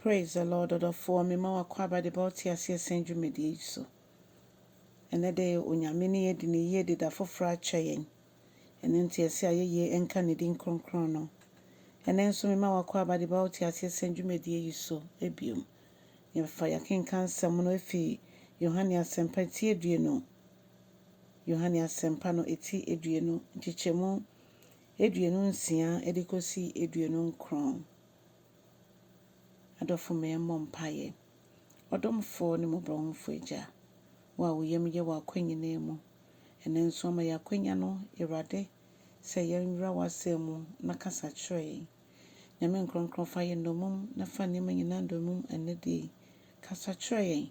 Praise the Lord ɔdɔfoɔ me ma w'akwaaba de ba wo teaseɛ sɛn dwumadie yi so. Ɛnɛ de Onyame ne yɛ di no yie de da foforɔ akyɛ yɛn. Ɛno nti ɛse ayɛyie nka ne din kronkron no. Ɛnɛ nso me ma w'akwaaba de ba wo teaseɛ sɛn dwumadie yi so biom. Yɛfa yɛakenka nsɛm no afi Yohane asɛmpa eti aduonu Yohane asɛmpa no eti aduonu nkyekyɛmu aduonu nsia de kɔsi aduonu nkron. Adɔfo ma yɛmmɔ mpaeɛ. Ɔdomfoɔ ne Mmɔborɔhunfoɔ Agya, Wo a Wo yam yɛ wɔ akwan nyinaa mu, ɛnnɛ nso ama yɛn akwanya no, Awurade, sɛ yɛnwura W'Asɛm mu na kasa kyerɛ yɛn. Nyame Nkrɔnkrɔn fa yɛn nnɔmum na fa nneɛma nyinaa nnɔmum ɛnnɛ da yi. Kasa kyerɛ yɛn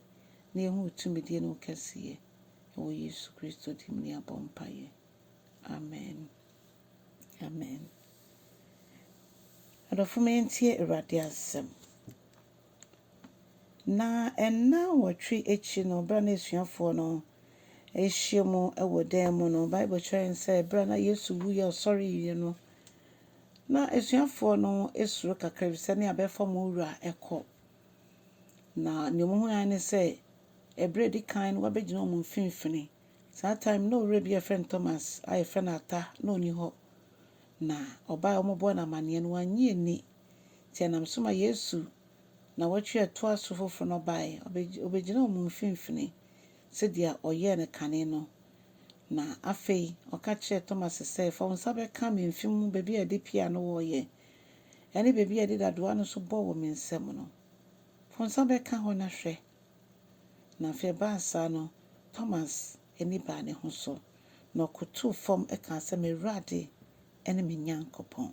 na yɛnhu Wo tumidie ne Wo kɛseyɛ. Ɛwɔ Yesu Kristo din mu ne yɛabɔ mpaeɛ. Amen. Amen. Adɔfo ma yɛntie Awurade asɛm. Na ɛnna nwɔtwe akyi no, berɛ a na asuafoɔ no ahyia mu wɔ dan mu no, Bible kyerɛ yɛn sɛ berɛ a na Yesu wuiɛ a ɔsɔreeɛ no, na asuafoɔ no suro kakra bi sɛ ne abɛfa wɔn wura kɔ. Na nea wɔhunu ara ne sɛ, ɛberɛ a ɛdi kan no, wabɛgyina wɔn mfimfini. Saa time no na owura bi a yɛfrɛ no Thomas a yɛfrɛ no Ata na ɔni hɔ na ɔbae a wɔbɔɔ no amanneɛ no wannye anni nti ɛnam so ma Yesu nawɔtwe a ɛtoa so foforo no bae ɔbɛgyinaa wɔn mfimfini sɛdeɛ ɔyɛɛ no kane no na afei ɔka kyerɛɛ Thomas sɛ fa wo nsa bɛka me mfe mu baabi a yɛde pia no wɔ yɛ ɛne baabi a yɛde dadoa no nso bɔ wɔ me nsam no fa wo nsa bɛka hɔ na hwɛ Na afei ɛbaa saa no, Thomas ani baa ne ho so, na ɔkotow fam kaa sɛ, M'Awurade ne me Nyankopɔn!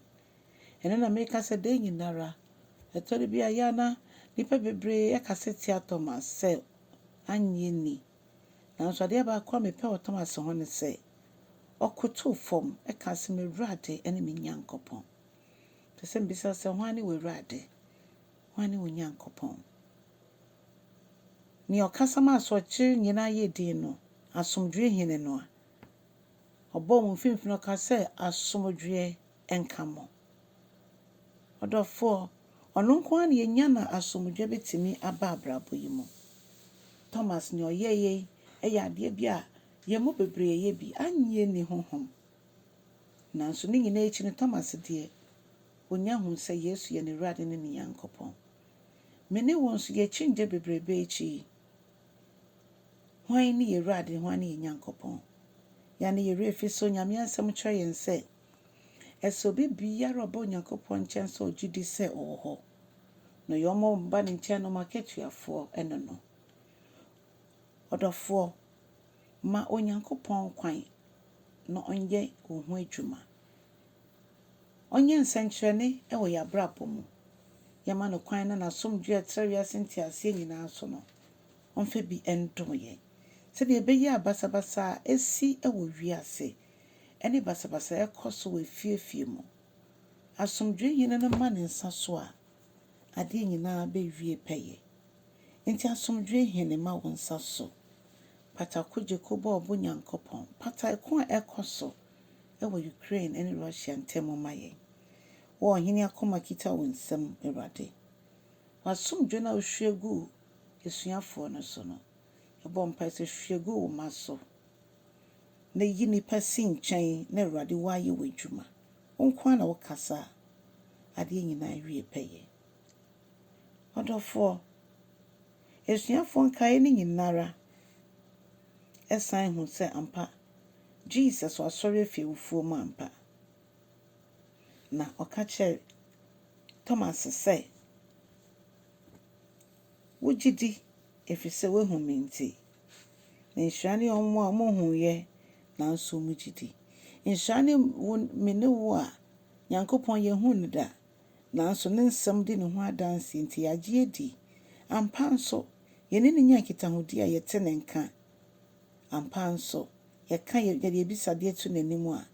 Ɛnnɛ na mereka sɛ dɛn nyinara. Ɛtɔ da bi a, ɛyɛ a na nnipa bebree kasa tia Thomas sɛ onnye nni. Nanso adeɛ baako a mepɛ wɔ Thomas ho ne sɛ, ɔkotow fam kaa sɛ, M'Awurade ne me Nyankopɔn! Ɛsɛ sɛ mibisa sɛ, hwan ne w'Awurade? Hwane wo Nyankopɔn? Nea ɔkasa ma asorɔkye nyinaa yɛ dinn no, asomdwoe Hene no a ɔbɔɔ mo mfimfini ɔka sɛ, Asomdwoe nka mo. Ɔdɔfoɔ, ɔno nko ara na yɛnya na asomdwoe bɛtumi aba abrabɔ yi mu. Thomas, nea ɔyɛeɛ yi yɛ adeɛ bi a yɛn mu bebree yɛyɛ bi, annye anni honhom. Nanso ne nyinaa akyi no, Thomas deɛ, Onya hu sɛ Yesu yɛ n'Awurade ne ne Nyankopɔn. Me ne wo nso, yɛn akyinnye bebrebe akyi yi, hwan ne yɛn Awurade, hwan ne yɛn Nyankopɔn? Yɛanne yɛn werɛ afi so. Nyame Asɛm kyerɛ yɛn sɛ, ɛsɛ obi biara a ɔba Onyankopɔn nkyɛn sɛ ɔgye di sɛ ɔwɔ hɔ, na ɔyɛ wɔn a wɔba ne nkyɛn no mu akatuafoɔ ne no. Ɔdɔfoɔ, ma Onyankopɔn kwan na ɔnyɛ wo ho adwuma. Ɔnyɛ nsɛnkyerɛnne wɔ yɛn abrabɔ mu. Yɛma no kwan na n'asomdwoe a ɛtra wiase nteaseɛ nyinaa so no, ɔmfa bi ndom yɛn. Sɛdeɛ ɛbɛyɛ a basabasa a ɛsi wɔ wiase ne basabasa a ɛkɔ so wɔ afie afie mu, asomdwoe Hene no ma ne nsa so a, adeɛ nyinaa bɛwie pɛyɛ. Enti asomdwoe Hene ma wo nsa so. Pata ko gye ko bɔ ɔbo Nyankopɔn. Pata ɛko a ɛkɔ so. wɔ Ukraine ne Russia ntam mma yɛn. Wo ɔhene akoma kita wo nsam, Awurade. W'asomdwoe no a wohwie guu asuafoɔ no so no, yɛbɔ mpae sɛ hwie gu wo mma so, na yi nnipa si nkyɛn na Awurade woayɛ w'adwuma. Wo nko ara na wokasa a adeɛ nyinaa awie pɛyɛ. Ɔdɔfoɔ, asuafoɔ nkaeɛ no nyina ara. san hu sɛ ampa Jesus ɔasɔr efi ewufuo mu ampa, na ɔka kyerɛɛ Thomas sɛ, Wo gyidi, efisɛ woehu me ntsi. Na nhyira nye hɔn a wɔhuuyɛ naaso wɔgye di. Nhyira nye wo me nye wo a Nyankopɔn yennhun no da, naaso ne nsɛm di no ho adanse ntsi yɛagye edi. Ampa so, Yɛne no nya nkitahodi a yɛte ne nka. Ampa ara nso, yɛka yɛn abisadeɛ to n'anim a,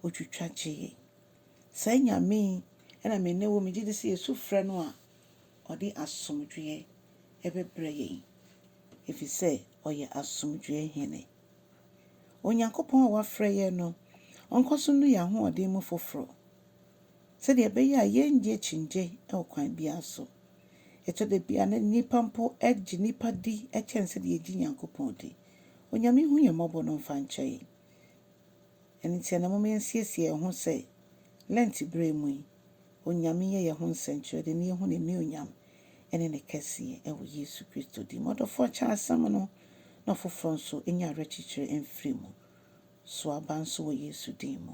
ɔtwitwa gye yɛn. Saa Nyame yi na me ne wo, megye di sɛ yɛsu frɛ no a, ɔde asomdwoeɛ bɛbrɛ yɛn, ɛfiri sɛ ɔyɛ asomdwoeɛ Hene. Onyankopɔn a wafrɛ yɛn no, ɔnkɔ so nnu yɛn ahoɔden mu foforɔ, sɛdeɛ ɛbɛyɛ a yɛrennya akyinnye wɔ kwan biara so. Ɛtɔ da bi a, na nnipa mpo gye nnipa di kyɛn sɛdeɛ yɛgye Nyankopɔn di. Onyame nhu yɛn mmɔbɔ no mfa nkyɛ yɛn. Ɛno nti ɛnnɛ momma yɛnsiesie yɛn ho sɛ Lent berɛ mu yi, Onyame nyɛ yɛn ho nsɛnkyerɛde na yɛhu N'anuonyam ne Ne kɛseɛ wɔ Yesu Kristo din mu. Ɔdɔfoɔ kyɛ asɛm no na ɔfoforɔ nso nya awerɛkyekyerɛ mfiri mu. Sow aba nso wɔ Yesu din mu.